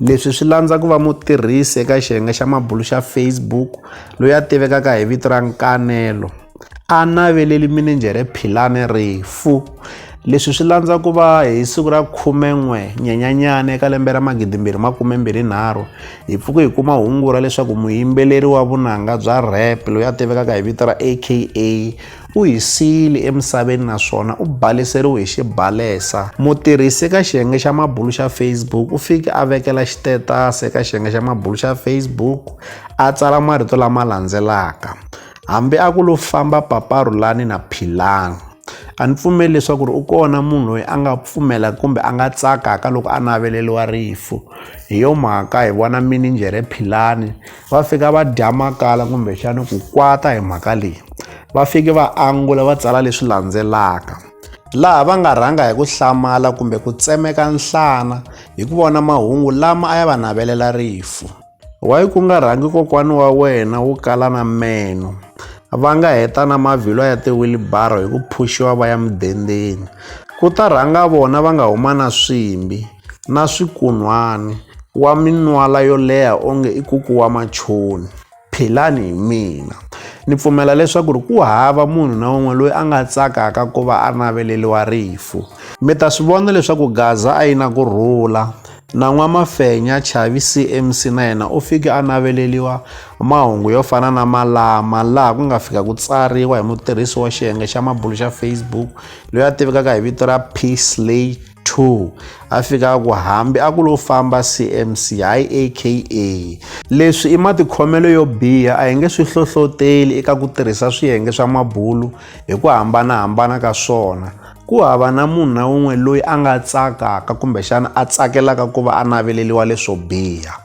Leswi swi landza ku va mutirhisi eka xiyenge xa mabulu xa Facebook loyi a tivekaka hi vito ra Nkanelo a naveleli minijhere Philane rifu. Leswi swi landza ku va hi siku ra 11 Nyenyanyana eka lembe ra 2023 hi pfuke hi kuma hungu ra leswaku muyimbeleri wa vunanga bya rap loyi a tivekaka hi vito ra AKA u hi siyile emisaveni naswona u baleseriwe hi xibalesa. Mutirhisi eka xiyenge xa mabulu xa Facebook u fike a vekela xitetasi eka xiyenge xa mabulu xa Facebook a tsala marito lama landzelaka, Hambi a ku lo famba paparhulani na philani. A ni pfumeli leswaku ri u kona munhu loyi a nga pfumela kumbe a nga tsakaka loko a naveleriwa rifu. Hi yo mhaka hi vona mininjhere philani va fika va dya makala kumbexana ku kwata hi mhaka leyi va fike va angula va tsala leswi landzelaka laha va nga rhanga hi ku hlamala kumbe ku tsemeka nhlana hi ku vona mahungu lama a ya va navelela rifu wayi ku nga rhangi kokwana wa wena wu kala na meno va nga heta na mavhilwa ya tiwilibaro hi ku phuxiwa va ya mudendzeni ku ta rhanga vona va nga huma na swimbi na swikun'hwani, wa minwala yo leha onge i kuku wa machoni. Phelani hi mina. Ni pfumela leswaku ri ku hava munhu na un'we loyi a nga tsakaka ku va a naveleriwa rifu. Mi ta swi vona leswaku Gaza a yi na ku rhula. Na N'wamafenya, Chavi CMC na yena u fike a naveleriwa mahungu yo fana na malama laha ku nga fika ku tsariwa hi mutirhisi wa xiyenge xa mabulu xa Facebook loyi a tivekaka hi vito ra Psliss. 2 a fika a ku hambi a ku lo famba cmc hayi aka leswi i matikhomelo yo biha a hi nge swi hlohloteli eka ku tirhisa swiyenge swa mabulu hi ku hambanahambana ka swona ku hava na munhu na wun'we loyi a nga tsakaka kumbexana a tsakelaka ku va a naveleliwa leswo biha